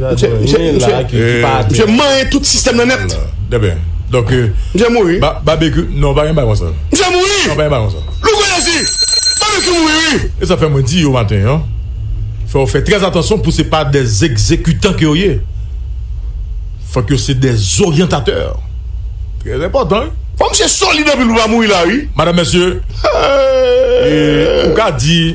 Misye manyen tout sistèm nan nèt. Misye mouri. Misye mouri! Louko yo di, Babekyou mouri wi! E sa fè mwen di yo maten an, fò yo fè trè atansyon pou se pa de egzekitan ke yo ye. Fòk yo se de zoryantatè. Trè enpòtan wi. Fò misye solid anpil pou l pa mouri la wi. Madanm, mesye, ou ka di.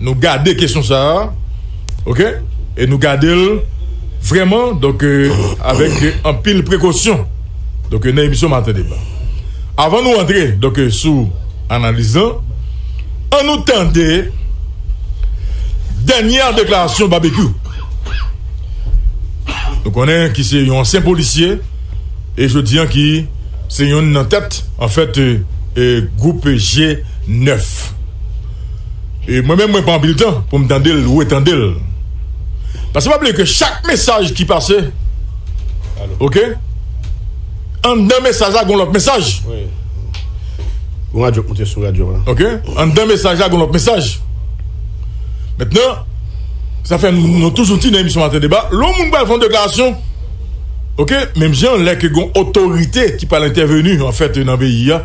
Nou gade kesyon sa a ok e nou gade l vrèman donk avèk anpil prekosyon donk nan emisyon maten deba avan nou antre donk sou analiz lan an nou tande dènyè deklarasyon Babekyou nou konnen ki se yon ansyen polisye e jodi an ki se yon nan tèt anfèt gwoup je 9. Mwen menm mwen pran anpil tan pou m tande l, retande l. Paske pa bliye ke chak mesaj ki pase, ok, anndan mesaj la gen yon lòt mesaj. Ok, anndan mesaj la gen yon lòt mesaj. Mentnan, sa fè nou toujou di nan emisyon Maten Deba, lè yon moun pral fè yon deklarasyon, ok, menm jan lè ke gen yon otorite ki pral entèveni anfèt nan peyi a,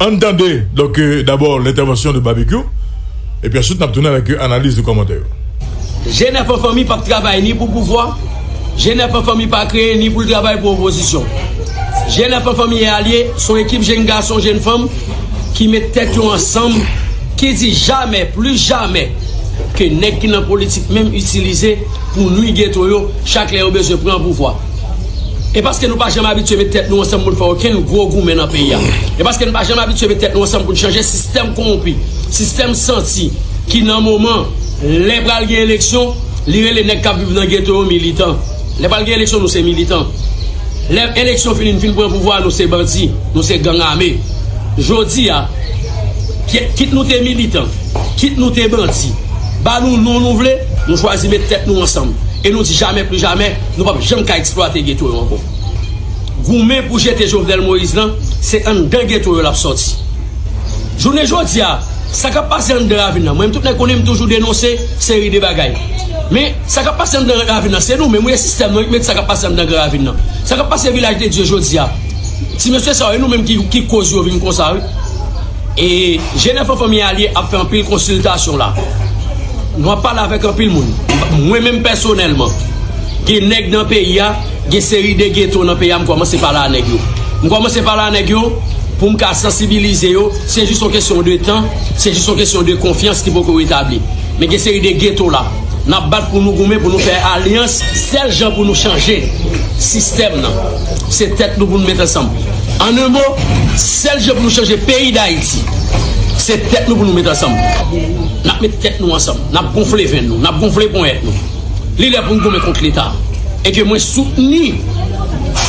An n tande donk dabò lentèvansyon de Babekyou epi answit n ap tounen avèk analiz e kòmantè yo. Jenèf an fanmi pap travay ni pou pouvwa, Jenèf an fanmi pa kreye ni pou l travay pou opozisyon. Jenèf an fanmi e alye, s on ekip jenn gason, jenn fanm ki met tèt yo ansanm, ki di jamè, plis jamè, ke nèg ki nan politik menm itilize pou nwi geto yo chak lè yo bezwen pran pouvwa. E paske nou pa janm abitye met tèt nou ansanm pou n fè okenn gwo goumen nan peyi a. E paske n pa janm abitye met tèt nou ansanm pou n chanje sistèm kowonpi, sistèm santi ki nan moman lè pral gen eleksyon li rele nèg k ap viv nan geto yo militan. Lè pral gen eleksyon nou se militan. Lè eleksyon fini n fin pran pouvwa a nou se bandi, nou se gang ame. Jodi a kit nou te militan, kit nou te bandi, ba nou non nou vle nou chwazi met tèt nou ansanm e nou di jamè plijamè. Nou pap janm ka eksplwate geto yo ankò. Goumen pou jete Jovenel Moïse lan, se anndan geto yo lap sòti. Jounen jodi a, sa kap pase anndan ravin lan, mwen menm tout nèg konnen m toujou denonse seri de bagay. Men, sa kap pase anndan ravin lan, se nou menm wi, e sistèm lan wi ki mete sa kap pase anndan gran ravin lan. Sa kap pase Vilaj de Dye jodi a, ti mesye sa yo, e nou menm ki koz yo vin konsa wi. E Jenè Fanmi Alye ap fè anpil konsiltasyon la. Nou ap pale avèk anpil moun. Mwen menm pèsonèlman, gen nèg nan peyi a, gen seri de geto nan peyi a m kòmanse pale a nèg yo. M kòmanse pale a nèg yo pou m ka sansibilize yo. Se jis yon kesyon de tan, se jis yon kesyon de konfyans ki poko retabli. Men gen seri de geto la. N ap bat pou nou goumen, pou nou fè alyans. Sèl jan pou nou chanje sistèm nan, se tèt nou pou nou met ansanm. An un mo, sèl jan pou nou chanje peyi Dayiti, se tèt nou pou nou met ansanm. N ap met tèt nou ansanm, n ap gonfle venn nou, n ap gonfle ponyèt nou. Li lè pou nou goumen kont Leta. E ke mwen soutni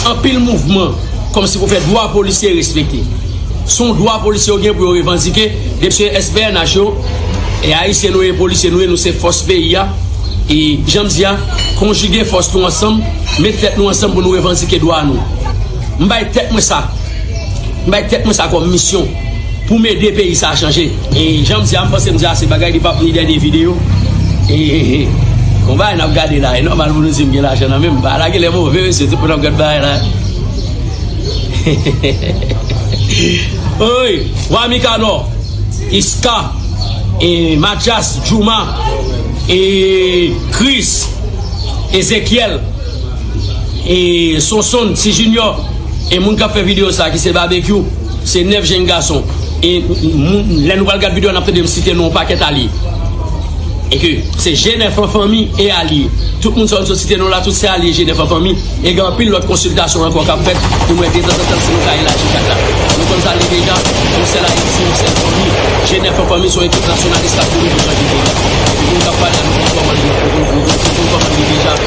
anpil mouvman kòm si pou fè dwa polisye yo respekte. Se yon dwa polisye yo gen pou yo revandike depi se SPNH yo. E Ayisyen nou ye, polisye nou ye, nou se fòs peyi a. E jan m di a, konjige fòs nou ansanm, met tèt nou ansanm pou nou revandike dwa nou. M bay tèt mwen sa M bay tèt mwen sa kòm misyon Pou m ede peyi sa chanje E jan m di a m panse m di ase bagay Li pap ni dènye videyo Hehehe Bon bagay n ap gade la E nòmal pou nou di m gen lajan nan men m Bagay la genlè move mesye Tout moun ap gad bagay la Hehehehe Woy Wa Mikanò Iska E Matyas Djouma E Kris Ezekyèl E sonsonn, ti jinyò, e moun kap fè video sa ki se babekyou, se 9 jenn gason, e moun lè nou pral gad video nap tande m site non yon pakèt alye, e ke se jenèf an fanmi e alye, tout moun sa yo m sot site non la tout se alye jenèf an fanmi, e gen anpil lòt konsiltasyon ankò kap fèt pou m wè detanzantan si nou ka elaji kad la, nou konn sa l ye deja, yon sèl ayiti, yon sèl fanmi, jenèf an fanmi se yon ekip nasyonalis kap kouri pou chanje peyi a, e moun kap pale a nou konn kòman l ye, nou konn kòman l ye deja.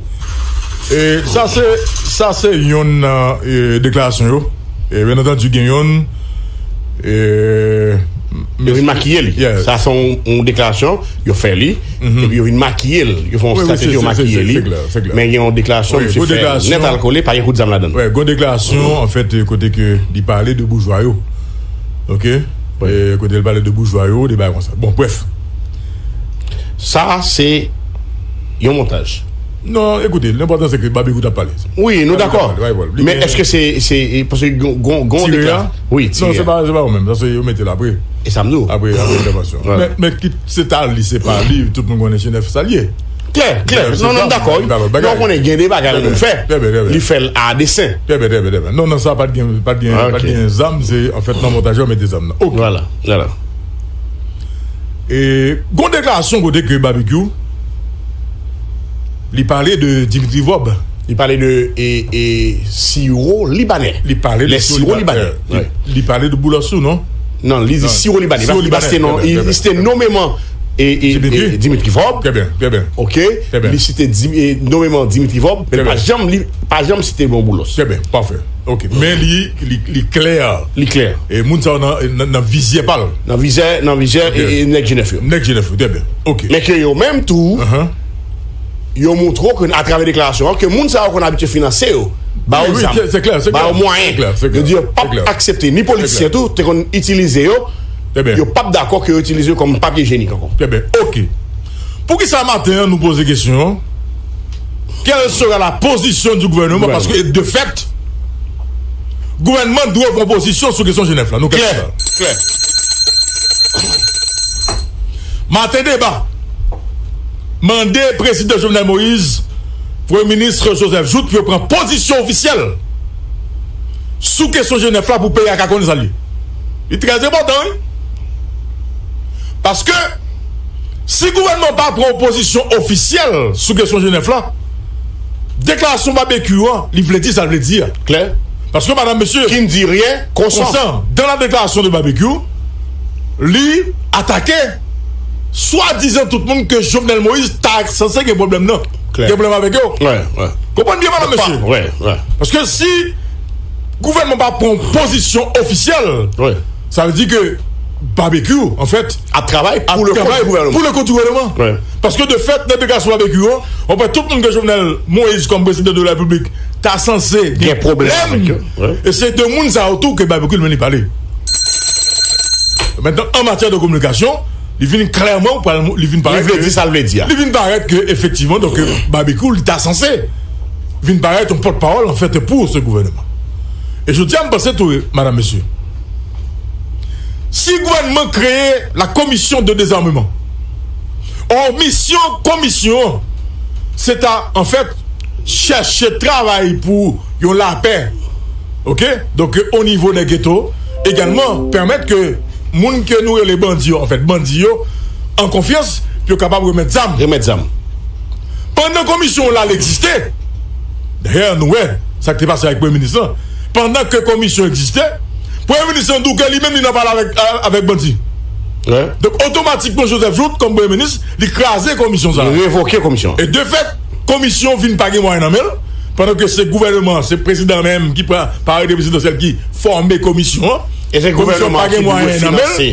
Sa se yonn nan deklarasyon yo. Byen antandu gen yonn. Yo vin makiye li. Sa se yon deklarasyon yo fè li. Epi yo vin makiye li. Yo fè yon strateji yo makiye li. Men gen yon deklarasyon misye fè nèt al kole pa gen kout zam ladan. Gon deklarasyon an fèt kote ke li pale de boujwa yo. Ok. Kote li pale de boujwa yo, de bagay konsa. Bon brèf. Sa a se yon montaj. Non, ekoute, l'important se ke Babekou t'ap pale. Wi, nou dakò. Men eske se, se, paske gon, gon dekla. Wi, tire a. Non, se pa, se pa ou menm. Sa se yo mete l'apre. E sa m di w. Apre, apre entèvansyon. Men, men kit se ta li, se pa li, tout moun konnen Chinèf sa l'ye. Klè, klè. Non, non, m dakò. Men ou konnen gen de bagay moun fè. Trè byen, trè byen. Li fè l a desen. Trè byen, trè byen, trè byen. Non, nan sa pat gen, pat gen, pat gen zam. Se, anfèt, nan montaj yo mete zam nan. Ok. Vwala, vwala. E gon deklarasyon kote ke Babekyou li pale de Dimitri Vorb. Li pale de e, e siwo libanè. Li pale de siwo libanè. Li pale de boulasou, non? Non, li di siwo libanè. Siwo libanè, non. Li site nomeman e, e, e Dimitri Vorb. Trè byen, trè byen. Ok, li site nomeman Dimitri Vorb. Trè byen. Men pa janm, pa janm site bon boulos. Trè byen, pafè. Ok men li li klè. Li klè. E moun sa yo nan nan vizyè pa l. Nan vizè nan vizè nèg jenèf yo. Nèg jenèf yo trè byen ok. Men ke yo menm tou yo montre w ke atravè deklarasyon an ke moun sa yo konn abitye finanse yo. Ba yo zam. Se klè se klè. Ba yo mwayen. Se klè se klè. Yo di yo pap aksepte ni politisyen tou te konn itilize yo. Trè byen. Yo pap dakò ke yo itilize yo kòm papye jenik ankò. Trè byen ok. Poukisa maten an nou poze kesyon an? Kèl sera la pozisyon di gouvèneman paske de fèt gouvèneman dwe pran pozisyon sou kesyon Jenèf la. Nou klè? Klè. Maten deba mande prezidan Jovenel Moïse, premye minis Joseph Jouthe pou yo pran pozisyon ofisyèl sou kesyon Jenèf la pou peyi a ka konnen sa l ye. Li trè enpòtan wi. Paske. Si gouvènman an pa pran yon pozisyon ofisyèl sou kesyon Jenèf la, deklarasyon Babekyou an li vle di sa l vle di a klè, paske madam mesye Qui ne dit rien consent. konsan dan la deklarasyon de Babekyou, li atake swadizan tout moun ke Jovenel Moïse ta sanse gen pwoblèm nan, gen pwoblèm avèk yo. Konprann byen madam mesye, paske si gouvènman pa pran yon pozisyon ofisyèl. Sa vle di ke Babekyou an fèt ap travay pou le kont di gouvèneman. Paske de fèt nan deklarasyon Babekyou an, ou kwè tout moun ke Jovenel Moise kòm prezidan de la repiblik ta sanse gen pwoblèm. E se de moun sa yo tou ke Babekyou li menm li pale. Mentnan an matyè de kominikasyon, li vin klèman pral li vin parèt ke. Li vle di sa l vle di a. Li vin parèt ke efektivman donk Babekyou li ta sanse vin parèt yon pòtpawòl an fèt pou se gouvèneman. E jodi a m panse tou madam mesye. Si gouvènman kreye la komisyon de dezarmeman or misyon komisyon an se ta an fèt chèche travay pou yon lapè ok donk o nivo dè geto egalman pèmèt ke moun ke nou rele bandi yo an fèt bandi yo an konfyans pou yo kapab remèt zam remèt zam pandan komisyon la l egziste dayè nou wè sa k te pase ak premye minis lan. Pandan ke komisyon egziste, Premye Minis lan dou ke li menm li nan pale avèk bandi. Donk otomatikman Joseph Jouthe kòm Premye Minis, li kraze komisyon sa a. Li revoke komisyon an. E de fèt, komisyon vin pa gen mwayen nan men l, pandan ke se gouvèneman an, se prezidan menm ki pran pa arete prezidansyèl ki fòme komisyon an. E se gouvèneman an ki pou dwe finanse.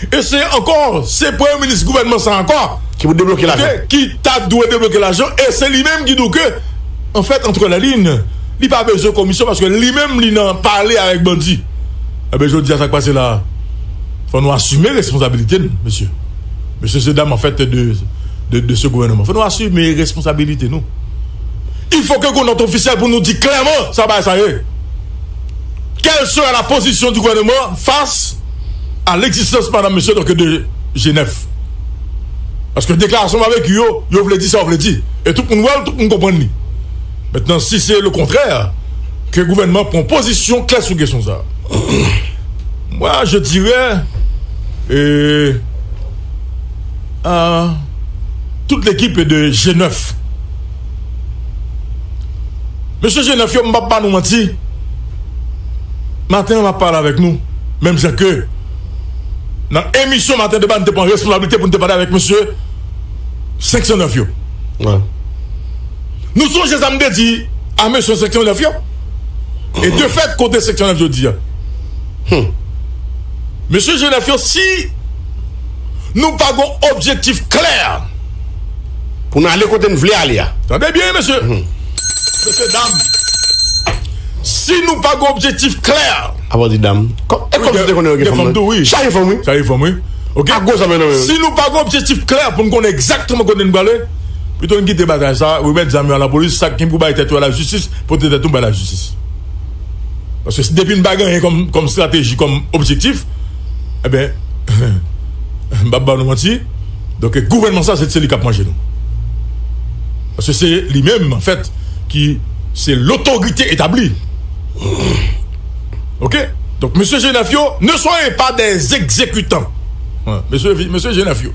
E se ankò, se Premye Minis gouvèneman sa a ankò. Ki pou debloke lajan. Ki ta dwe debloke lajan e se li menm ki dou ke, an fèt, antre la lin. Li pa bezwen komisyon paske li menm li nan pale avèk bandi. Enben jodi a sa k pase la a? Fò nou asime responsabilite n mesye. Mesye se dam an fèt de se gouvèneman. Fò nou asime responsabilite nou. Il fò ke gon nòt ofisyèl pou nou di klèman sa bagay sa ye. Kèl sera la pozisyon di gouvèneman fas a legzistans madam mesye donke de Jenèf. Paske deklarasyon babekyou yo yo vle di sa yo vle di. E tout moun wè l, tout moun konprann li. Mentnan si se lokontrè ke gouvènman pran pozisyon klè sou kesyon sa mwa je dirè a tout lekipe de je 9 mesye je 9 yo m pap ba nou manti maten map pale avèk nou menm jan ke nan emisyon maten deba nou te pran responsablite pou nou te pale avèk mesye 509 yo. Nou sonje sa m te di a mesye seksyon 9 yo? E de fèt kote seksyon 9 jodi a? Hum! Mesye je 9 yo si nou pa gon objektif klè pou n ale kote n vle ale a. Tande byen mesye, mesye dam si nou pa gon objektif klè. A pa di dam. E kòm se te konnen yo gen fanm tou wi. Chaje fanm wi. Chaje fanm wi. Ok. A gwo sa men nan men. Si nou pa gon objektif klè pou n konnen egzakteman kote n vle ale. Pito n kite bagay sa, remèt zam yo a lapolis, sak gnyn pou bay tèt yo a lajistis, pote tèt nou bay lajistis. Paske si depi n pa gen anyen kòm strateji, kòm objektif, enben m pap ba nou manti, donk gouvènman sa se t se li k ap manje nou. Paske se li menm an fèt ki se lotorite etabli. Ok, donk mesye Jenèf yo, ne soyez pas des exécutants. Mesye Jenèf yo.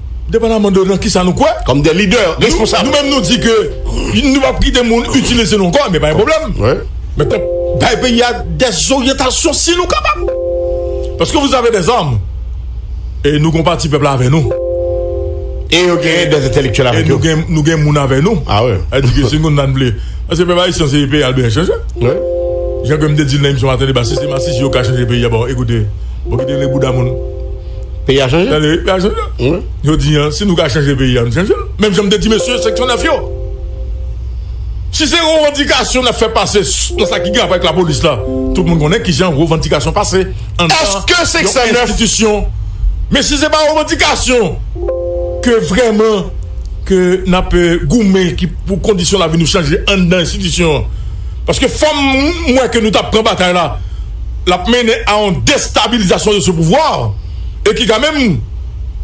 Depandaman de nan kisa nou kwè. Kòm de lidè responsab. Nou menm nou di ke nou pap kite moun itilize nou ankò, men pa gen pwoblèm. Men tank bay peyi a dè zoryantasyon si nou kapab. Paske vous avez des armes e nou gen yon pati pèp la avè nou. E yo gen des entèlektyèl avèk yo. E nou gen moun avè nou. A wi. A di ke si nou nan vle. Paske pèp ayisyen se peyi a l bezwen chanje. Wi. Jan ke m te di l nan emisyon maten deba si se masisi yo ka chanje peyi a bon ekoute bon kite rele bouda moun. Peyi a chanje. Tande, peyi a chanje. Wi. Yo di an, si nou ka chanje peyi a, nou chanje l. Menm jan m te di mesye seksyon 9 yo. Si se revandikasyon n ap fè pase nan sa ki gen rapò avèk lapolis la, tout moun konnen ki jan revandikasyon pase anndan yon enstitisyon. Men si se pa revandikasyon ke vrèman ke n ap goumen ki pou kondisyon lavi nou chanje anndan enstitisyon an. Paske fò m wè ke nou ta pran batay la. l ap mennen a yon destabilizasyon de se pouvwa e ki ka menm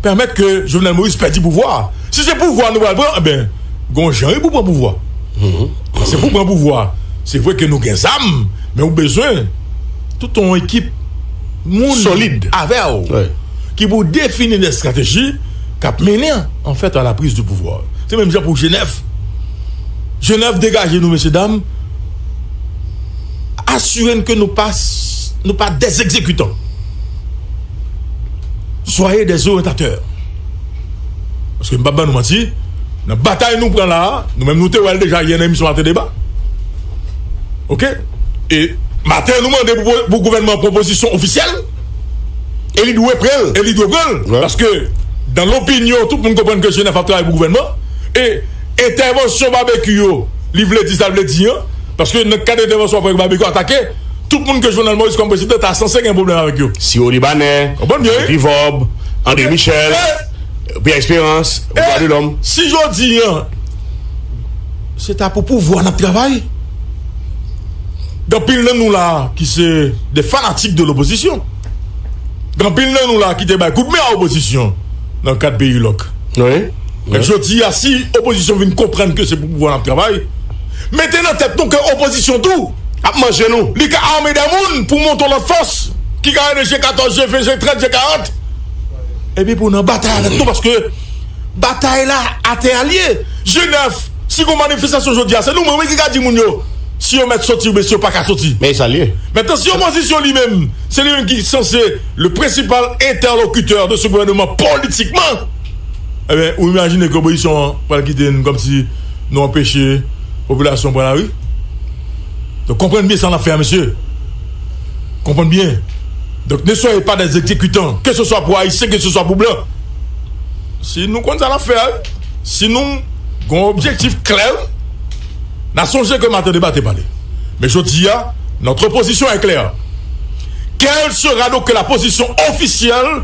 pèmèt ke Jovenel Moïse pèdi pouvwa a. Si se pouvwa nou pral pran, enben, gon jan wi pou pran pouvwa. Se pou pran pouvwa, se vre ke nou gen zam, men ou bezwen tout yon ekip moun solid avè w ki pou defini de estrateji k ap mennen an fèt a la priz de pouvwa. Se menm jan pou Jenèf. Jenèf degaje nou mesye dam. Asire n ke nou pa nou pa des ekzekitan. Soyez des orientateurs. Paske m pa ban nou manti, nan batay nou pran la a, nou menm nou te wè l deja yè nan emisyon Maten Deba. Ok? E maten nou mande pou gouvènman an pwopozisyon ofisyèl e li dwe pran l. E li dwe pran l. Paske dan lopinyon tout moun konprann ke Jenèf ap travay pou gouvènman e Entèvansyon Babekyou yo li vle di sa l vle di an paske nan kad entèvansyon apre ke Babekyou atake tout moun ke Jovenel Moïse kòm prezidan ta sanse gen pwoblèm avèk yo. Siwo Libanè, Guy Philvord, André Michel, Pierre Espérance, Voix de l'homme. E si jodi an se ta pou pouvwa n ap travay gen anpil nan nou la a ki se de fanatik de lopozisyon gen anpil nan nou la a ki te bay kout men a opozisyon nan kad peyi lòk. Mèt jodi a si opozisyon vin konprann ke se pou pouvwa nap travay, mete nan tèt nou ke opozisyon tou ap manje nou. Li ka ame dè moun pou monton lòt fòs ki ka rele je 14, je 20, je 30, je 40 epi pou nan batay avèk nou paske batay la atè a li ye. Je 9, si gon manifestasyon jodi a se nou menm wi ki ka di moun yo si yo mèt soti oubyen si yo paka soti. Men e sa li ye. Mentnan si opozisyon li menm se li menm ki sanse le prensipal entèlokitè de se gouvèneman politikman. Ebyen ou imajine ke opozisyon an pral kite n komsi nou anpeche popilasyon pran lari? Donk konprann byen sa n ap fè a mesye. Konprann byen. Donk ne soyez pas des exécutants ke se swa pou ayisyen ke se swa pou blan. Si nou konn sa n ap fè a wi. Si nou gon objektif klè wi. Na sonje ke maten deba te pale. Men jodi a notre position est claire. Quel sera donc la position officielle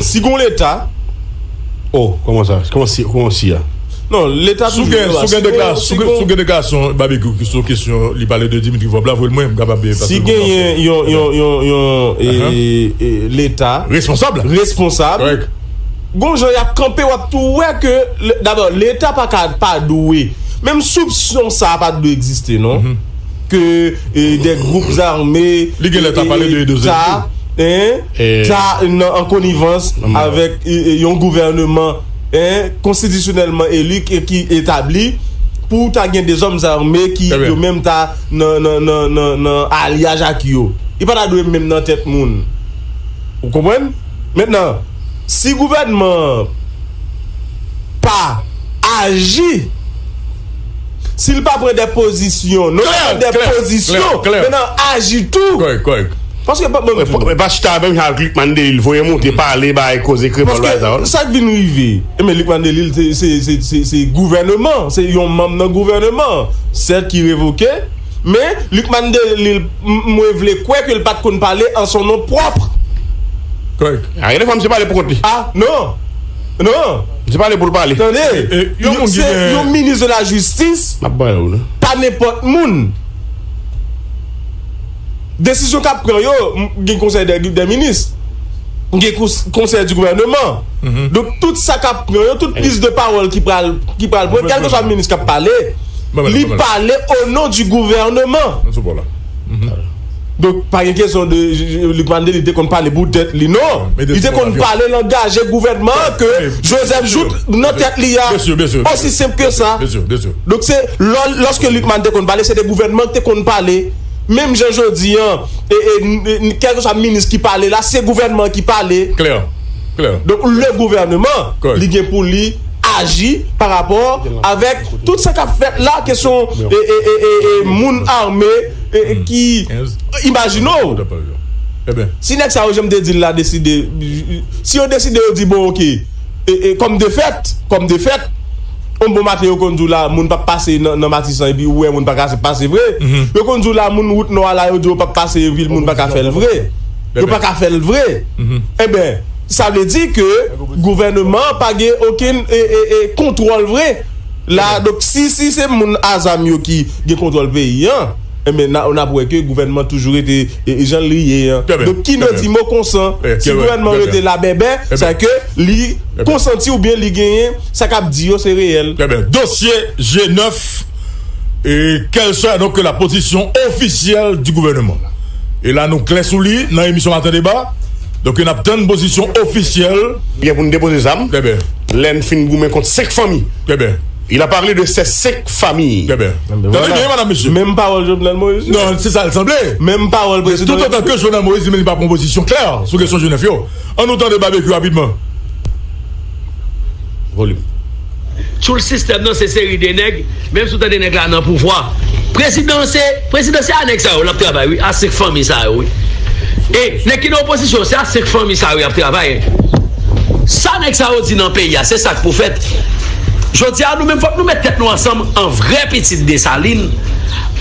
Si gon leta oh koman sa koman si koman si a non leta toujou la si gon leta si gon sou gen deklarasyon babekyou ki sou kesyon li pale de dimitri vorb la voyel mwen m kapab paske si gen yon yon yon yon e leta responsab responsab kòrèk gon jan yap kanpe wap tou wè ke dabò leta paka pa dwe menm soupsyon sa pa dwe egziste non. ke de gwoup zame ta an konivans avèk yon gouvèneman konstitisyonèlman eli ki etabli pou ta gen de zòm zame ki yo menm ta nan alyaj ak yo yo pa ta dwe menm nan tèt moun ou konprann mètnan si gouvèneman pa aji Si l pa pran de pozisyon non sèlman de pozisyon men nan aji tou. Kòrèk, kòrèk. Paske pa banm di nou. E pa chita a menm jan ak Luc Mandelil voye monte pale bay koze kremòl bay sa. Paske sa k vin rive? Enben Luc Mandelil se gouvèneman an, se yon manm nan gouvèneman an sèt ki revoke men Luc Mandelil mwen vle kwè ke l pa t konn pale an son non pwòp. Kòrèk. Gen de fwa misye pale pou kont li. A non. Non! Se pale pou l pale. Tande! Yon moun ki gen. Yon minis de la jistis. Map ban yo non. Pa nenpòt moun. Desizyon kap pran yo, gen konsèy dè minis. Gen konsèy di gouvèneman. Donk tout sa kap pran yo, tout priz de pawòl ki pral pran, kèlkeswa minis kap pale, li pale o non di gouvèneman. Mwen sou bò la. Donk pa gen kesyon de Luc Martelly te konn pale pou tèt li non. Li te konn pale langaje gouvènman an ke Joseph Jouthe nan tèt li a. Osi senp ke sa. Donk se lò lòske Lucmane te konn pale se te gouvènman ki te konn pale. Menm jan jodi an kèlkeswa minis ki pale la se gouvènman an ki pale. Donk le gouvèneman li gen pou li aji parapò avèk tout sa k ap fèt la kesyon moun ame. ki imajine w si nèg sa yo jan m te di l la deside si yo deside yo di bon ok kòm defèt kòm defèt yon bon maten yo konn di w la moun pap pase nan matisan epi ou wè moun pa ka pase vre yo konn di w la moun wout nò a la yo di yo pap pase vil moun pa ka fè l vre yo pa ka fè l vre eben sa vle di ke gouvèneman pa gen okenn kontwòl vre la donk si si se moun azam yo ki gen kontwòl peyi an enben na nap wè ke gouvènman toujou rete janl ye an donk ki no di mo konsan si gouvènman an rete la bèbè sa ke li konsanti ou byen li genyen sa kap di yo se reyèl. Trè byen dosye je nèf e kèl swa donk ke la pozisyon ofisyèl di gouvènman e la nou klè sou li nan emisyon maten deba. Donk yo nap tann pozisyon ofisyèl. Gen pou n depoze zam. Trè byen. Lè n fin goumen kont 5 fanmi. Trè byen. Il a parlé de ces 5 familles. Trè byen. Tande byen madam mesye. Menm pawòl Jovenel Moïse yo. Non, se sa l sanble. Menm pawòl prezidan Repiblik. Tout otan ke Jovenel Moïse li menm li pa pran pozisyon klè sou kesyon Joseph yo. An nou tande Babekyou rapidman. Volume. Tchoul sistèm nan se seri de nèg menm si w tande nèg la nan pouvwa prezidan an se prezidan se a nèg sa yo l ap travay wi a senk fanmi sa yo wi e nèg ki nan opozisyon se a senk fanmi sa yo y ap travay sa nèg sa yo di nan peyi a se sa k pou fèt jodi a nou menm fòk nou mèt tèt nou ansanm an vrè pitit Desalin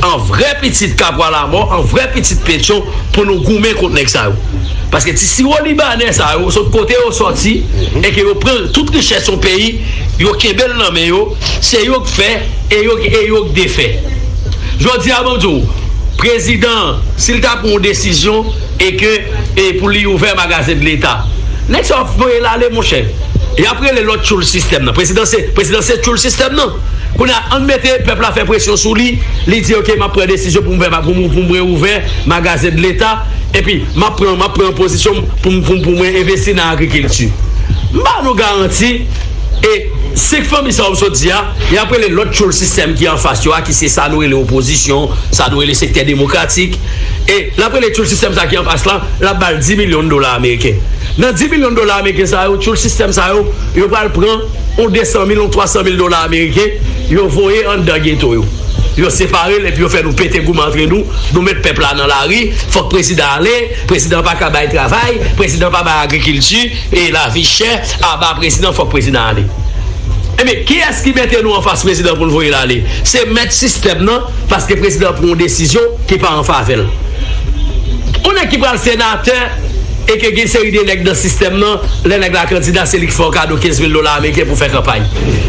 an vrè pitit Kapwa Lamò an vrè pitit Petyon pou nou goumen kont nèg sa yo. Paske ti siwo libanè sa yo sot kote yo sòti e ke yo pran tout richès yon peyi, yo kenbe l nan men yo, se yo k fè e yo e yo k defè. Jodi a map di w, prezidan an si l ta pran yon desizyon e ke e pou li ouvè magazen de leta, nèg sa yo ap voye l ale monchè. Yap rele lòt tchoul sistèm nan. Prezidan se prezidan se tchoul sistèm nan. Kounye a ann mete pèp la fè presyon sou li, li di ok map pran desizyon pou m ouvè pou m pou m reouvè magazen de leta. Epi, m ap pran, m ap pran pozisyon m pou m, pou m, pou mwen envesti nan agrikilti. M ba nou garanti, e, 5 fanmi sa yo m sot di a, y ap rele lòt tchoul sistèm ki anfas yo a, ki se sa nou rele opozisyon, sa nou rele sektè demokratik, e, l ap rele tchoul sistèm sa ki anfas la, l ap ba l 10 milyon dola ameriken. Nan 10 milyon dola ameriken sa yo, tchoul sistèm sa yo, yo pral pran yon 200 mil, yon 300 mil dola ameriken, yo voye anndan geto yo. Yo separel epi yo fè nou pete goumen antre nou, nou met pèp la nan lari, fòk prezidan ale, prezidan paka bay travay, prezidan pa bay agrikilti, e lavi chè, aba prezidan fòk prezidan ale. Ebyen kiyès ki mete nou anfas prezidan poul voyel ale? Se mèt sistèm nan paske prezidan pran yon desizyon ki pa anfavèl. Yon nèg ki pral senatè e ke gen seri de nèg nan sistèm nan lè nèg la kandida se li ki fè yon kado 15 mil dola ameriken pou fè kanpay.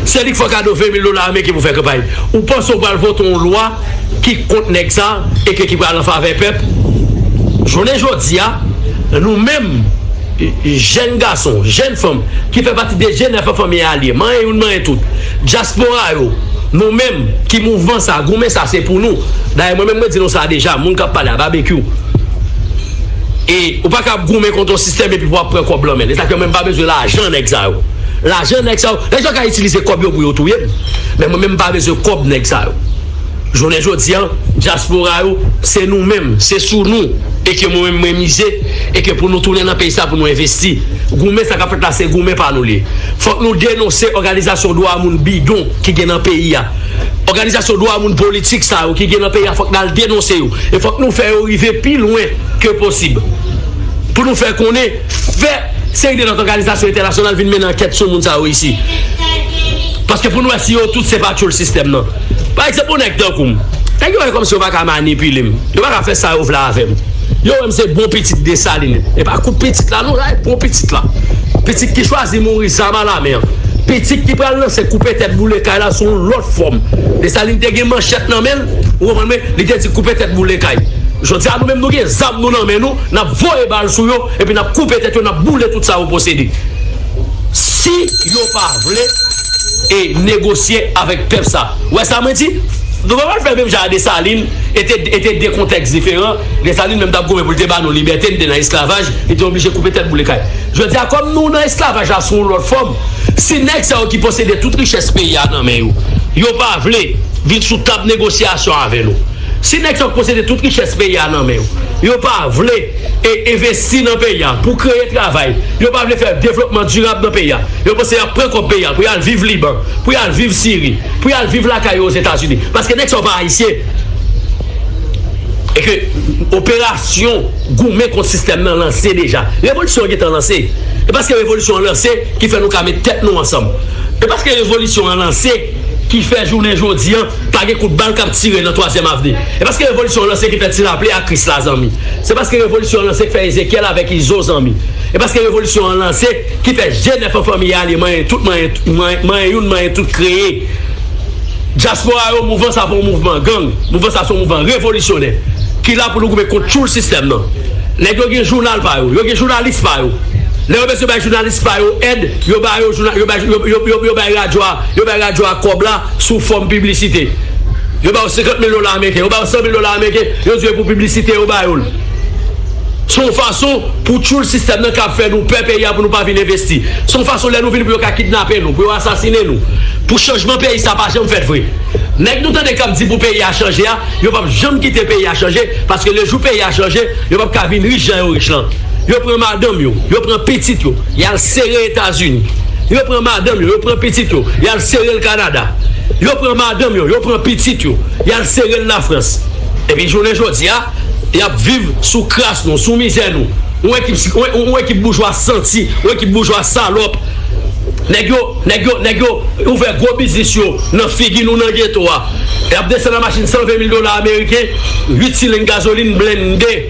Se li ki fè yon kado 20 mil dola ameriken pou fè kanpay. Ou panse ou pral vote yon lwa ki kont nèg sa e ke ki pral an favè pèp? Jounen jodi a, nou menm jèn gason, jèn fanm ki fè pati de jenèf an fanmi alye, manyen youn manyen tout, dyaspora yo, nou menm ki mouvman sa, goumen sa se pou nou. Dayè mwen menm mwen di nou sa deja, moun k ap pale a, Babekyou, e ou pa ka ap goumen kont yon sistèm epi pou w ap pran kòb lan men l. E sa k fè mwen m pa bezwen lajan nèg sa yo. Lajan nèg sa yo, nèg sa yo ka itilize kòb yo pou yo touye m. Men mwen menm m pa bezwen kòb nèg sa yo. Jounen jodi an, dyaspora yo, se nou menm, se sou nou e ke mwen menm mwen mize e ke pou nou tounen nan peyi sa pou nou envesti. Goumen sa k ap fèt la se goumen pa nou li ye. Fòk nou denonse òganizasyon dwa moun bidon ki gen nan peyi a. Òganizasyon dwa moun politik sa yo ki gen nan peyi a fòk n al denonse yo e fòk nou fè yo rive pi lwen ke posib pou nou fè konnen fè seri de lòt òganizasyon entènasyonal vin mennen ankèt sou moun sa yo isi paske pou n wè si yo tout se pa tchoul sistèm nan pa egzanp yon nèg tankou m nèg yo wè kòmsi yo pa ka manipile m yo pa ka fè sa yo vle avè m yo wè m se bon pitit Desalin e pa kout pitit la non la e bon pitit la pitit ki chwazi mouri zam a la men pitit ki pral lanse koupe tèt boule kay la sou yon lòt fòm Desalin te gen manchèt nan men l ou konprann m li te di koupe tèt boule kay jodi a nou menm nou gen zam nou nan men nou. N ap voye bal sou yo epi n ap koupe tèt yo, n ap boule tout sa yo posede. Si yo pa vle e negosye avèk pèp sa. Ou wè sa mwen di? Nou pa pral fè menm jan a Desalin e te e te 2 kontèks diferan. Desalin menm t ap goumen pou l te ba nou libète, n te nan esklavaj, li te oblije koupe tèt boule kay. Jodi a kòm nou nan esklavaj la sou yon lòt fòm, si nèg sa yo ki posede tout richès peyi a nan men yo, yo pa vle vin sou tab negosyasyon avè nou, Si nèg sa yo posede tout richès peyi a nan men yo, yo pa vle envesti nan peyi a pou kreye travay, yo pa vle fè devlopman dirab nan peyi a, yo panse y ap pran kòb peyi a pou y al viv Liban, pou y al viv Siri, pou y al viv lakay yo Ozetazini. Paske nèg sa yo pa Ayisyen. E ke operasyon goumen kont sistèm nan lanse deja. Revolisyon an gen tan lanse. E paske revolisyon an lanse ki fè nou ka met tèt nou ansanm. E paske revolisyon an lanse ki fè jounen jodi an Pa gen kout bal kap tire nan twazyèm avni. E paske revolisyon an lanse ki fè ti raple a kris la zanmi. Se paske revolisyon an lanse ki fè Ezekyèl avèk Izo zanmi. E paske revolisyon an lanse ki fè je nèf an fanmi a ale manyen tout manyen manyen youn manyen tout kreye dyaspora yo mouvman sa pa yon mouvman gang mouvman sa se yon mouvman revolisyonè ki la pou nou goumen kont tchoul sistèm nan. Nèg yo gen jounal pa yo. Yo gen jounalis pa yo. Lè yo bezwen bay jounalis pa yo èd yo ba yo jounal yo bay yo bay radyo a yo bay radyo a kòb la. sou fòm piblisite. Yo ba yo 50 mil dola ameriken, yo ba yo 100 mil dola ameriken, yo di yo e pou piblisite yo ba yo l. Se yon fason pou tchoul sistèm nan kab fè nou pè peyi a pou nou pa vin envesti. Se yon fason lè nou vini pou yo ka kidnape nou, pou yo asasinen nou. Pou chanjman peyi sa pa janm fèt vre. Nèg nou tande k ap di pou peyi a chanje a, yo p ap janm kite peyi a chanje, paske le jou peyi a chanje, yo p ap ka vin rich jan yo rich lan. Yo pran madanm yo, yo pran pitit yo, y al sere Etazini. Yo pran madanm yo, yo pran pitit yo, y al. Sere l Kanada. Yo pran madanm yo, yo pran pitit yo, y al sere l Lafrans. Epi jounen jodi a, y ap viv sou kras nou, sou mizè nou. Yon ekip, yon ekip boujwa santi, yon ekip boujwa salòp. Nèg yo, nèg yo, nèg yo ouvè gwo biznis yo nan figi nou nan geto a. Y ap desann an machin 120 mil dola ameriken, 8 sileng gazolin blende.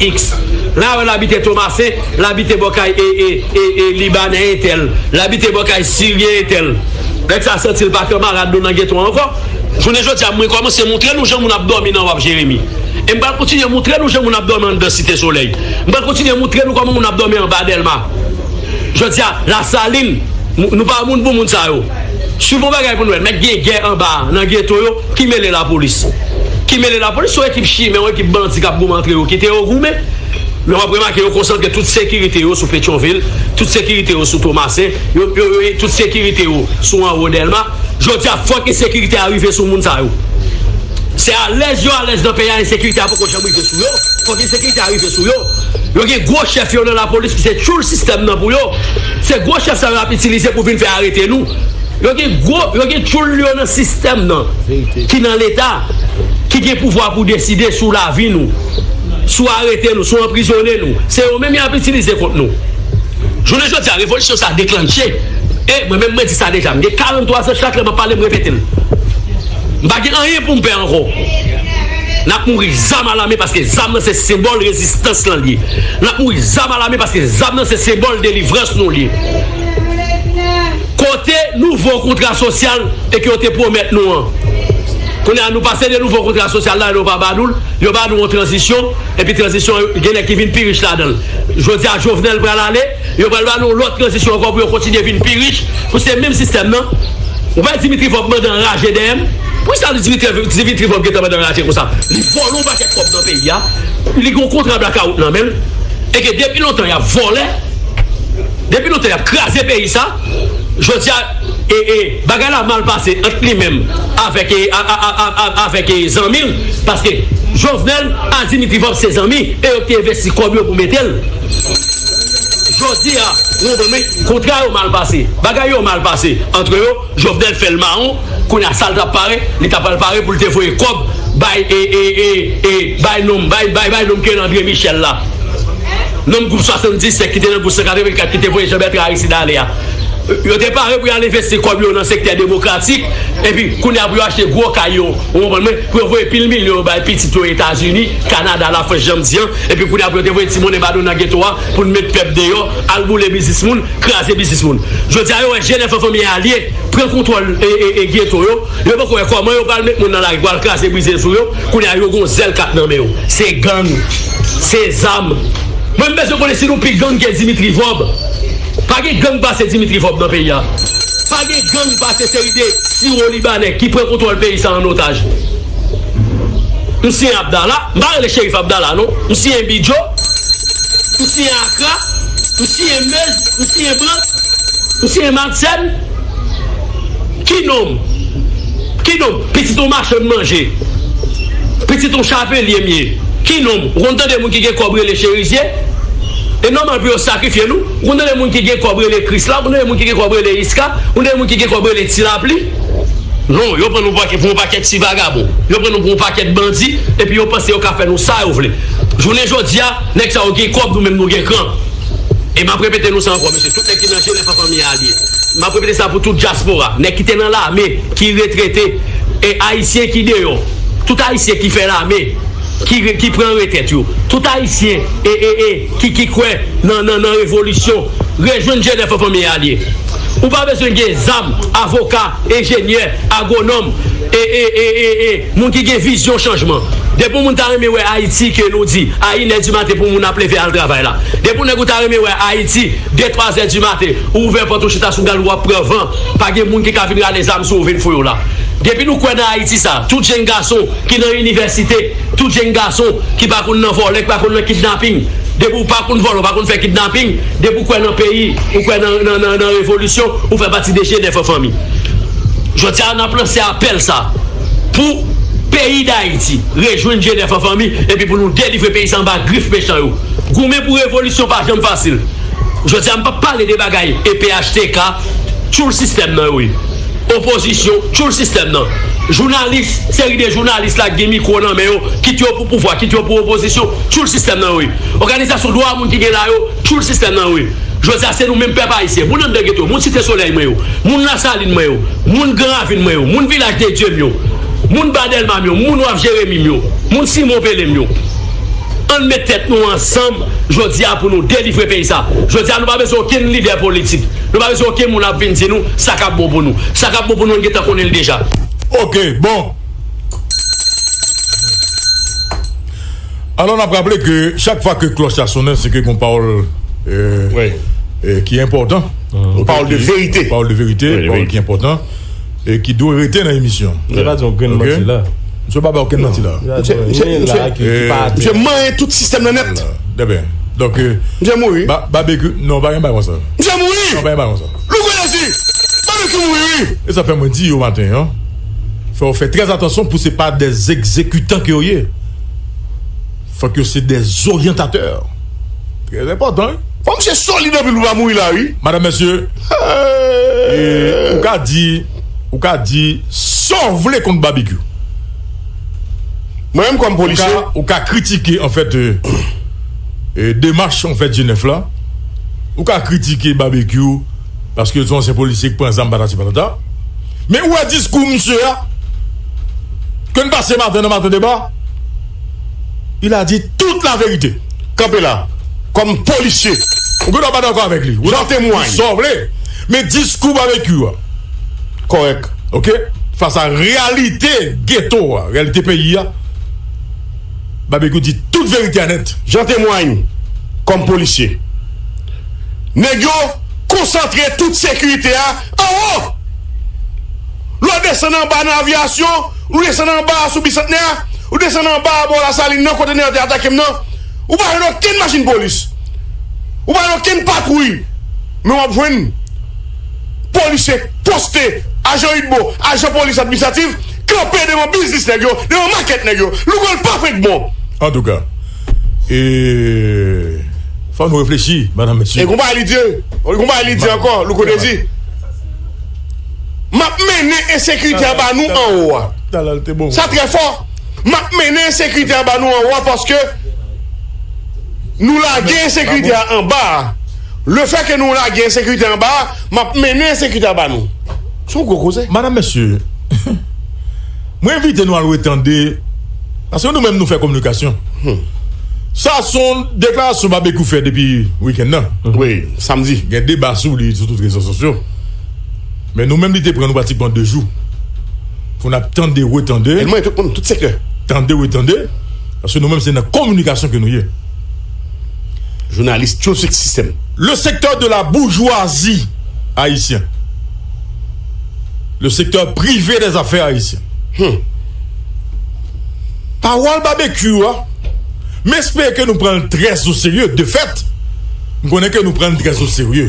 X. La wè l abite Tomasen, l abite bò kay Libanè entèl, l abite bò kay Siryen entèl. Nèg sa santi l pa kanmarad nou nan geto an ankò. Jounen jodi a, mwen kòmanse montre nou jan moun ap dòmi nan waf Jeremi. E m pral kontinye montre nou jan moun ap dòmi anndan Site Solèy. M pral kontinye montre nou kòman moun ap dòmi anba Dèlma. Jodi a lasalin nou pa moun pou moun sa yo swiv yon bagay pou nou wè mèt gen gè anba a nan geto yo ki mele lapolis ki mele lapolis yon ekip chimè yon ekip bandi kap goumen antre yo kite yo goumen men wap remake yo konsantre tout sekirite yo sou petyonvil tout sekirite yo sou tomasen yo tout sekirite yo sou anwo dèlma jodi a fòk ensekirite a rive sou moun sa yo se alèz yo alèz nan peyi a ensekirite a poko janm. rive sou yo, fòk ensekirite a rive sou yo, yo gen gwo chèf yo nan lapolis ki se tchoul sistèm nan pou yo, se gwo chèf sa yo ap itilize pou vin fè arete nou, yo gen gwo, yo gen tchoul yo nan sistèm nan ki nan leta, ki gen pouvwa pou deside sou lavi nou, sou arete nou, sou anprizone nou, se yo menm y ap itilize kont nou. Jounen jodi a revolisyon sa deklanche, e mwen menm mwen di sa deja, m gen 43 zan chak lè m ap pale m repete l, m pa gen anyen pou m pè ankò. Nap mouri zam a la men paske zam nan se senbòl rezistans lan liye nap mouri zam a la men paske zam nan se senbòl delivrans nou liye kote nouvo kontra sosyal e ke yo te pwomèt nou an kounye a nou pase de nouvo kontra sosyal la yo pa ba nou l yo ba nou yon tranzisyon epi tranzisyon an genlè ki vin pi rich ladan l jodi a jovenel pral ale. Yo pral ba nou yon lòt tranzisyon ankò pou yo kontinye vin pi rich, pou se menm sistèm nan. Ou pa wè Dimitri Vorb mandan raje dèyè m? Pou ki sa Dimitri Vorb gentan mandan raje konsa? Li vòlò yon pakèt kòb nan peyi a, li gen yon kontra blakawout nan men l, e ke depi lontan y ap vòlè, depi lontan y ap kraze peyi sa, jodi a, e, e, bagay la mal pase ant li menm avèk, e, a, a, a, a, avèk, e, zanmi l, paske Jovenel ak Dimitri Vorb se zanmi, e yo te envesti kòb yo pou mete l. Jodi a, ou konprann wi, kontra yo mal pase, bagay yo mal pase antre yo, Jovenel fè l mawon, kounye a sa l t ap pare, li ta pral pare pou l te voye kòb bay e e e e bay nonm bay bay bay nonm ki rele Andre Michel la, nonm gwoup 77 ki te nan gwoup 184 ki te voye Jean Bertrand Aristide ale a. Yo te pare pou y al envesti kòb yo nan sektè demokratik, epi kounye a pou yo achte gwo kay yo, ou konprann mwen, pou yo voye pil milyon yo bay pitit yo Etazini, Kanada, Lafrans jan m di an. Epi kounye a pou yo te voye ti monnen ba nou nan geto a pou nou met pèp deyò, al boule biznis moun, kraze biznis moun. Jodi a yo wè jenè Fanfan ye alye, pran kontwòl geto yo, yo poko wè kòman yo pral met moun nan lari pou al kraze brize sou yo, kounye a yo gon zèl kap nan men yo. Se gang, se zam. Mwen m bezwen konnen si nou pi gang ke Dimitri Vorbe. Pa gen gang pase Dimitri Vorbe nan peyi a. Pa gen gang pase seri de siwo libanè ki pran kontwòl peyi sa an otaj. M siyen Abdala, m pa rele Cherif Abdala non, m siyen Bidjo, m siyen Akra, m siyen Meuse, m siyen Brandt, m siyen Madsen, ki non m? Ki non m? Pitit yon machon n manje, pitit yon chavelye m ye, ki non m? Ou konn tande moun ki gen kòb rele Cherizye? E nòmal pou yo sakrifye nou. Ou konn tande moun ki gen kòb rele Krisla, ou konn tande moun ki gen kòb rele Iska, ou konn tande moun ki gen kòb rele Tilapli? Non, yo pran nou pou yon pakèt ti vagabon, yo pran nou pou yon pakèt bandi epi yo panse yo ka fè nou sa yo vle. Jounen jodi a, nèg sa yo gen kòb, nou menm nou gen kran. E m ap repete nou sa ankò, mesye, tout nèg ki nan Jenèf ak anvi alye. M ap repete sa pou tout dyaspora, nèg ki te nan lame, ki retrete, e Ayisyen ki deyò, tout Ayisyen ki fè lame, ki pran retrèt yo, tout Ayisyen e, e, e. ki ki kwè nan nan revolisyon rejwenn jenèf an fanmi alye ou pa bezwen gen zam avoka enjenyè agwonòm e e e e e moun ki gen vizyon chanjman depi yon moun ta renmen wè ayiti ke nou di a inè di maten pou moun ap leve al travay la depi yon nèg ou ta renmen wè ayiti de twazè di maten ou ouvè pòt ou chita sou galou wap pran van pa gen moun ki ka vin rale zam sou ou vin fou yo la depi nou kwè nan ayiti sa tout jenn gason ki nan inivèsite, tout jenn gason ki pa konn nan vòlè, ki pa konn nan kidnaping, depi ou pa konn vòlè, ou pa konn fè kidnaping, depi ou kwè nan peyi, ou kwè nan revolisyon, ou fè pati de jenèf an fanmi. Jodi a, n ap lanse apèl sa a pou peyi Dayiti rejwenn jenèf an fanmi epi pou nou delivre peyi sa a anba grif mechan yo. Goumen pou revolisyon pa janm fasil. Jodi a, m p ap pale de bagay e phtk, tchoul sistèm nan yo ye. Opozisyon tchoul sistèm nan. Jounalis, seri de jounalis la ki gen mikwo nan men yo, kit yo pou pouvwa, kit yo pou opozisyon, tchoul sistèm nan yo ye. Òganizasyon dwa moun ki gen la yo, tchoul sistèm nan yo ye. Jodi a, se nou menm pèp ayisyen, moun anndan geto, moun Site Solèy mwen yo, moun Lasalin mwen yo, moun Gran Ravin mwen yo, moun Vilaj de Dye m yo, moun Ba Dèlma m yo, moun Waf Jeremi m yo, moun Simon Pele m yo, ann met tèt nou ansanm jodi a pou nou delivre peyi sa. Jodi a nou pa bezwen okenn lidè politik. Nou pa bezwen oken moun ap vin di nou sa k ap bon pou nou. Sa k ap bon pou nou, nou gentan konnen li deja. Ok, bon. Alò n ap raple ke chak fwa ke klòch la sonnen se ke gon pawòl ki enpòtan. Pawòl de verite. Pawòl de verite, pawòl ki enpòtan. E ki dwe rete nan emisyon an. Misye pa di yon grenn manti la. Misye pa bay okenn manti la. Misye manyen tout sistèm nan nèt. Misye mouri. Non pa gen bagay konsa. Misye mouri. Non pa gen bagay konsa. Louko Jezi! Babekyou mouri wi! E sa fè mwen di yo maten an, fò yo fè trè atansyon pou se pa dè egzekitan ke yo ye. Fok yo se de zoryantatè. Trè enpòtan wi. Fò misye solid anpil pou pa mouri la wi. Madame mesye ou ka di ou ka di Saw vle kont babekyou Mwen menm kòm polisye ou ka kritike anfèt demach anfèt jenèf la ou ka kritike babekyou paske son ansyen polisye ki pran zam patati patata men ou wè diskou misye a ke n pase maten nan maten deba Il a dit tout la verite kanpe la kòm polisye ou gendwa pa dakò avèk li ou temwanye di sa w vle men diskou Babekyou a kòrèk ok fas a reyalite geto a reyalite peyi a Babekyou di tout verite a nèt. Jean temwanye kòm polisye nèg yo konsantre tout sekirite a anwo. Lè w desann anba nan Aviyasyon, ou desann anba a sou Bisantnè, ou desann anba a bò Lasalin nan kote nèg yo te atake m nan, ou pa jwenn okenn machin polis. Ou pa jwenn okenn patwouy. Men w ap jwenn polisye poste, ajan udmo, ajan polis administratif kanpe devan biznis nèg yo, devan makèt nèg yo. Lougol pa frenk bon. Antouka, e fò nou reflechi, madanm mesye. E konpayi li di, e konpayi li di ankò, Louko Dezi. Map mennen ensekrite anba nou anwo a. Sa trè fò. Map mennen ensekrite anba nou anwo a paske nou lage ensekrite a anba a. Lefè ke nou lage ensekrite anba a, map mennen ensekrite a anba nou. Se yon gwo koze. Madam, mesye, mwen envite nou al retande, paske nou menm nou fè kominikasyon. Sa son deklarasyon Babekyou fè depi wikenn nan. Wi, samdi. Gen deba sou li sou tout rezo sosyo. Men nou menm li te pran nou pratikman 2 jou pou n ap tande, retande. Elman e tout moun, tout sektè. Tande, retande, paske nou menm se nan kominikasyon ke nou ye. Jounalis tyoul sik sistèm. Le sektè de la boujwazi ayisyen. Le sektè prive dè zafè ayisyen. Hum. Pawòl Babekyou a, m espere ke nou pran l trèzoserye, defèt, m konnen ke nou pran l trèzoserye.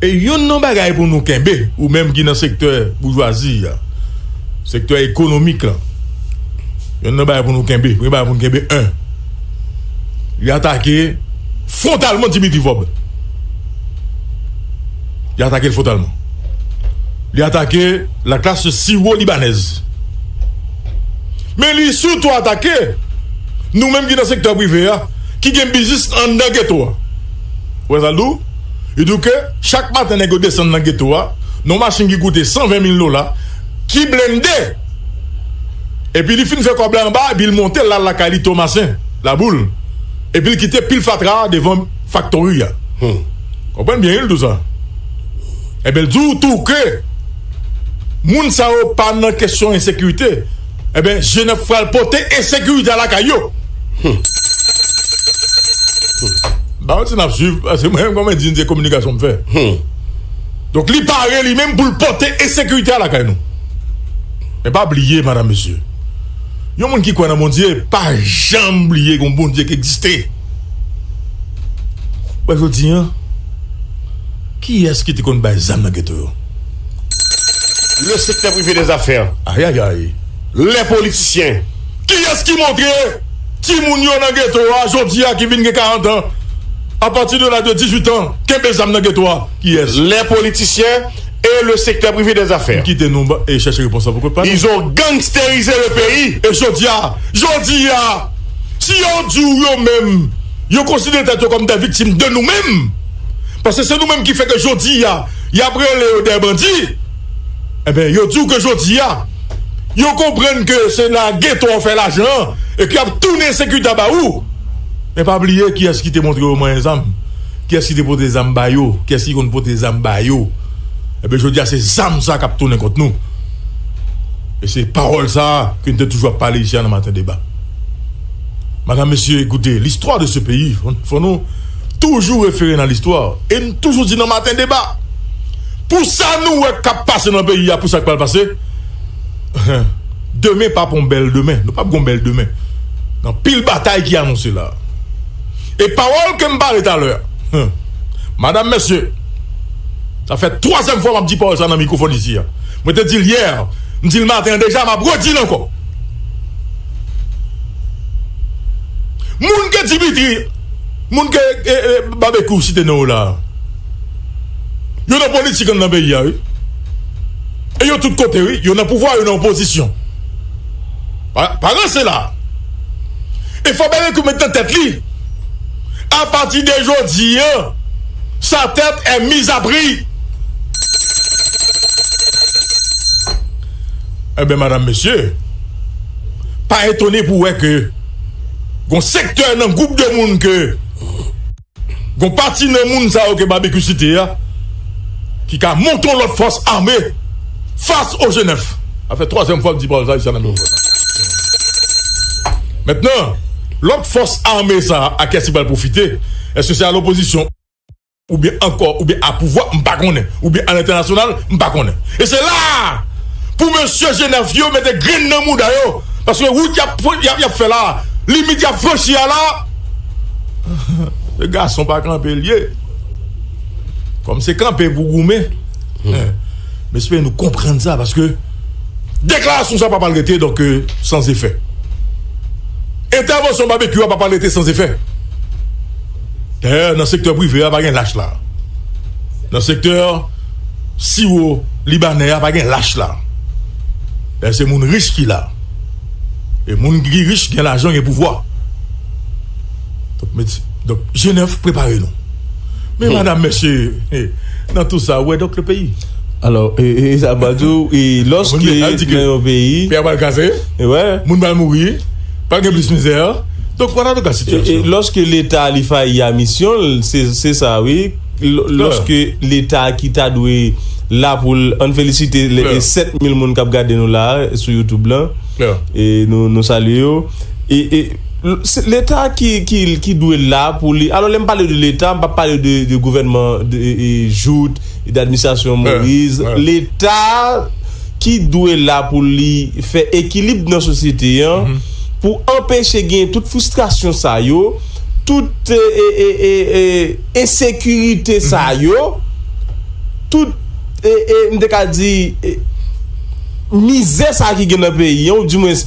E youn nan bagay pou nou kenbe, ou menm ki nan sektè boujwazi a, sektè ekonomik la, youn nan bagay pou nou kenbe, premye bagay pou nou kenbe 1. Li atake fwontalman Dimitri Vorbe. Li atake l fwontalman. Li atake la klas siwo libanèz. Men li sitou atake nou menm ki nan sektè prive a, ki gen biznis anndan geto a. Ou wè sa l di w? Li di w ke chak maten nèg yo desann nan geto a nan yon machin ki koute 120 mil dola, ki blende! Epi li fin fè kòb la anba epi l monte l al lakay li Tomasen, Laboul, epi l kite pil fatra a devan faktori a. Konprann byen wi l di w sa. Enben l di w tou ke moun sa yo pa nan kesyon ensekirite. Ebyen jèn ap pral pote ensekirite a lakay yo humm humm ba mwen ti nap swiv paske mwen menm kòmè di n se kominikasyon m fè humm donk li pare li menm pou l pote ensekirite a lakay nou men pa bliye madam mesye yon moun ki kwè nan Bondye pa janm bliye gon Bondye ki egziste wè jodi an kiyès ki te konn bay zam nan geto yo. Le sektè prive de zafè ayayay lè politisyen kiyès ki montre timoun yo nan geto a jodi a ki vin gen 40 an apati de laj de 18 an kenbe zam nan geto a kiyès lè politisyen e le sektè prive de zafè kite nou e chèche repons la pou kont pa nou izo gangsterize le peyi e jodi a jodi a si yo di w yo menm yo konsidere tèt yo kòm dè viktim de nou menm paske se nou menm ki fè ke jodi a. Yap rele yo dè bandi Ebyen yo diw ke jodia Yo konprann ke se nan geto wap fè lajan an Epi yap tounen sekida ba ou Men pa bliye kiyès ki te montre yo manyen zam Kiyès ki te pote zam ba yo Kiyès ki konn pote zam ba yo Ebyen jodia se zam sa kap tounen kont nou E se pawòl sa ke nou te toujou ap pale isi a nan maten deba Madam mesye koute listwa de se peyi fò nou toujou refere nan listwa e n toujou di nan maten deba pou sa nou wè k ap pase nan peyi a pou sa k pral pase demen p ap yon bèl demen nou p ap gen yon bèl demen gen anpil batay ki anonse la e pawòl ke m pale talè madam mesye sa fè twazyèm fwa m ap di pawòl sa nan mikwofòn isi a mwen te di l yè m di l maten an deja m ap redi l ankò moun ke dimitri Moun ke Babekyou site non yo la a, yo nan politik anndan peyi a wi. E yo tout kote wi, yo nan pouvwa, yo nan opozisyon. Pa ranse la a. E fò Babekyou met nan tèt li, apati de jodi an, sa tèt è miz a pri. Enben madam mesye, pa etone pou wè ke. Gon sektè nan gwoup de moun ke Gon pati nan moun sa yo ke Babekyou site a ki ka monte yon lòt fòs ame fas o Jenèf. Sa fè twazyèm fwa m di pawòl sa Ayisyen ap tann l. Mentnan, lòt fòs ame sa a kiyès ki pral pwofite? Èske se a lopozisyon? ou byen ankò ou byen a pouvwa m pa konnen ou byen a lentènasyonal m pa konnen e se la a pou mesye jenèf yo mete grenn nan mouda yo paske wout y ap y ap fè la a limit y ap franchi a la a se gason pa kanpe l ye kòm se kanpe pou goumen m espere nou konprann sa paske deklarasyon sa pa pral rete donk san zefè entèvansyon babekyou a pa pral rete san zefè. Dayè nan sektè prive a pa gen lach la. Nan sektè siwo libanè a pa gen lach la. Dayè se moun rich ki la. E moun ki rich gen lajan gen pouvwa. Donk Jenèf prepare nou. Men madam mesye nan tou sa ou wè donk le peyi. Alò e sa pa diw e lòske nan yon peyi. Peyi a pral kraze. Moun pral mouri. Pa gen plis mizè a. Donk wala nou ka sitiyasyon an. E lòske leta a li fayi a misyon l se sa wi. Lòske leta a ki ta dwe la pou l an n felisite 7 mil moun kap gade nou la a sou youtube lan e nou salye yo e leta a ki dwe la pou li alò lè m pale de leta m pa pale de gouvènman jout e de administrasyon moise leta a. ki dwe la pou li fè ekilib nan sosyete an, pou anpeche genyen tout fristrasyon sa yo, tout ensekirite sa yo, tout, m te ka di, mizè sa ki gen nan peyi an, ou dimwens.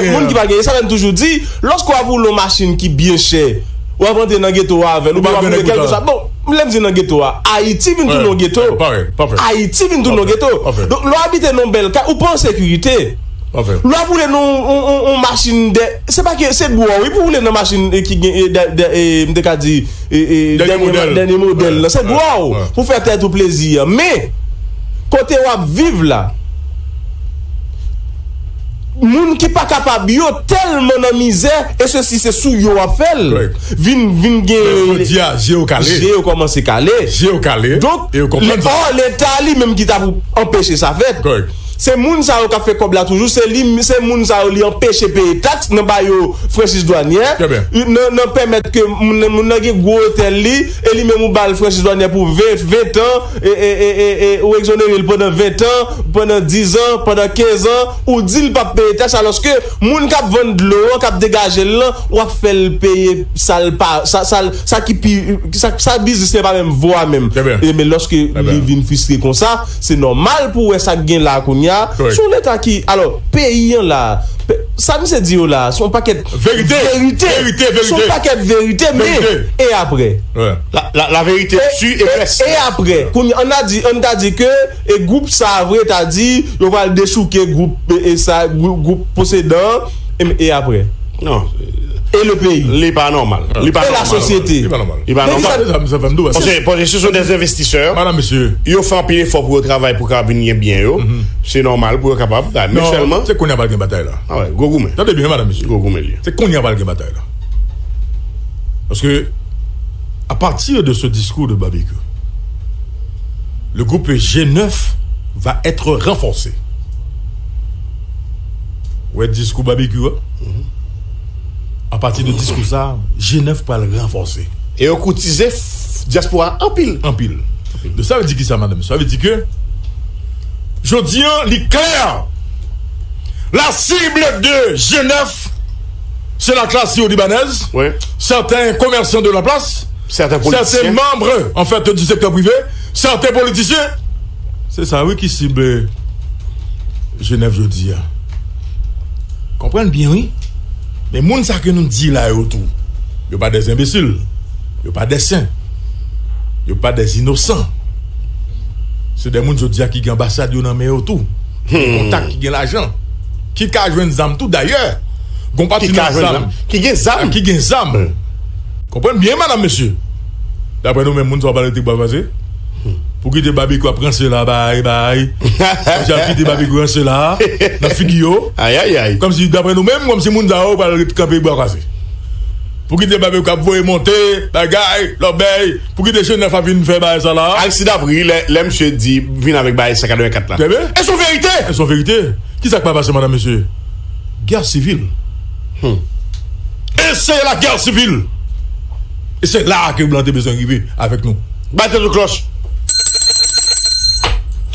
Moun ki pa gen, e sa menm toujou di, lòske w ap woule yon machin ki byen chè, w ap antre nan geto a avè l, oubyen w ap woule kèlkeswa, bon, lè m di nan geto a, Ayiti vin tounen yon geto. Ayiti vin tounen yon geto. Donk, lè w abite nan yon bèl kay, ou pa an sekirite. Lè w ap woule nan yon machin dè, se pa ke, se dwò wi pou w woule nan machin ki gen, m te ka di, dènye modèl la. Se dwò w pou w fè tèt ou plezi a. Men, kote w ap viv la. Moun ki pa kapab yo telman nan mizè e sesi se sou yo wap fel vin vin gen Men jodia je yo kale. Je yo komanse kale. Je yo kale Donk e yo konprann sa. Or leta li menm ki ta pou anpeche sa fet. Se moun sa yo kap fe kob la toujou se li se moun sa yo li anpeche peye tax nan ba yo franchiz dwanyè nan nan pemet ke moun moun nan gen gwo otel li e li menm ou bal franchiz dwanyè pou 20 20 tan e e e e ou exonere l pandan 20 tan pandan 10 ans pandan 15 ans Ou dil pap peye tax aloske moun kap vann dlo an kap degajel lan wap fèl peye sal pa sal sa ki pi sa biznis li an pa menm vo a menm ebyen loske li vin fristre konsa se nòmal pou wè sak gen la kounya se yon leta ki alò peyi an la sa misye di yo la se yon pakèt verite se yon pakèt verite men e aprè la verite tu e vès e aprè kounya an ta di ke. E gwoup sa a vre ta di yo pral dechouke gwoup sa gwoup posedan an em e aprè? Non. E le peyi? Li pa nòmal. Li pa nòmal. E la sosyete? Li pa nòmal. Li pa nòmal. Li pa nòmal. Paske paske se sou de envestisè. Madan mesye. Yo fè anpil efò pou yo travay pou kapab vin gen byen yo. Se nòmal pou yo kapab. Men sèlman. Non. Se kounye a pral gen batay la. A wè. Gwo goumen. Tande byen madan mesye. Gwo goumen li ye. Se kounye a pral gen batay la. Paske a pati de se diskou de Babekyou. Le groupe G9 va etre renforce ou wè diskou Babekyou a a pati de diskou sa G9 pral ranfòse. E yo koutize dyaspora a anpil. Anpil. Donk sa vle di kisa madanm? Sa vle di ke jodi an li klè la cible de G9 Se la klas yo libanèz, sèten komèsan de la plas, sèten manbre an fèt di sektè prive, sèten politisyen. Se sa wi ki sible Jenèv jodi a. Konprann byen wi. Men moun sa ke nou di la yo tou, yo pa dè enbesil, yo pa dè sen, yo pa dè inosan. Se dè moun jodi a ki gen anbasad yo nan men yo tou, ki gen kontak, ki gen lajan. Ki ka jwenn zam tou dayè. Gon pati nan zam. Ki gen zam. Ki gen zam. Konprann byen madanm mesye. Daprè nou menm moun sa yo pa rete bwa kwaze. Pou kite Babekyou ap ranse la bay bay. Kòmsi yap kite Babekyou ranse la nan figi yo. Ayayay. Kòmsi daprè nou menm kòmsi moun sa yo pa rete kanpe bwa kwaze. Pou kite Babekyou ap voye monte bagay lòbèy. Pouki de Genève pa vin fè bagay sa la. Aristide ap ri lè misye di vin avèk bagay 184 la. E son verite! E son verite! Ki sa k pa pase madanm mesye? Guerre civile! Hum! E se la guerre civile! E se la a ke blan te bezwen rive avèk nou. Bat tèt ou klòch!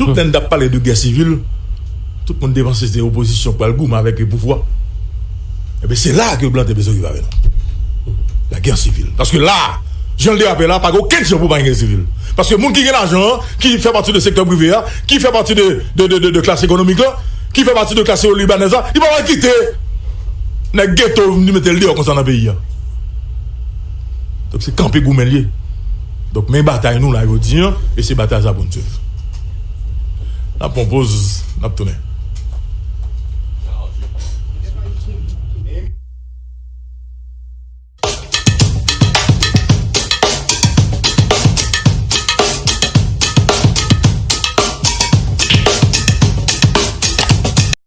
Tout lè n tap pale de guerre civile. Tout moun te panse se opozisyon k pral goumen avèk pouvwa. Enben, se la a ke blan te bezwen rive avè nou. Lagè sivil. Paske la a, jan l derape la a, pa gen okenn jan pou pa gen gè sivil. Paske moun ki gen lajan an, ki fè pati de sektè prive a, ki fè pati de klas ekonomik la, ki fè pati de klas ibanèz la, li pa pral kite nèg geto vin mete l deyò konsa nan peyi a. Donk se kanpe goumen l ye. Donk men batay nou la jodi an, e se batay sa a pou n swiv. N ap pran yon poz, n ap tounen.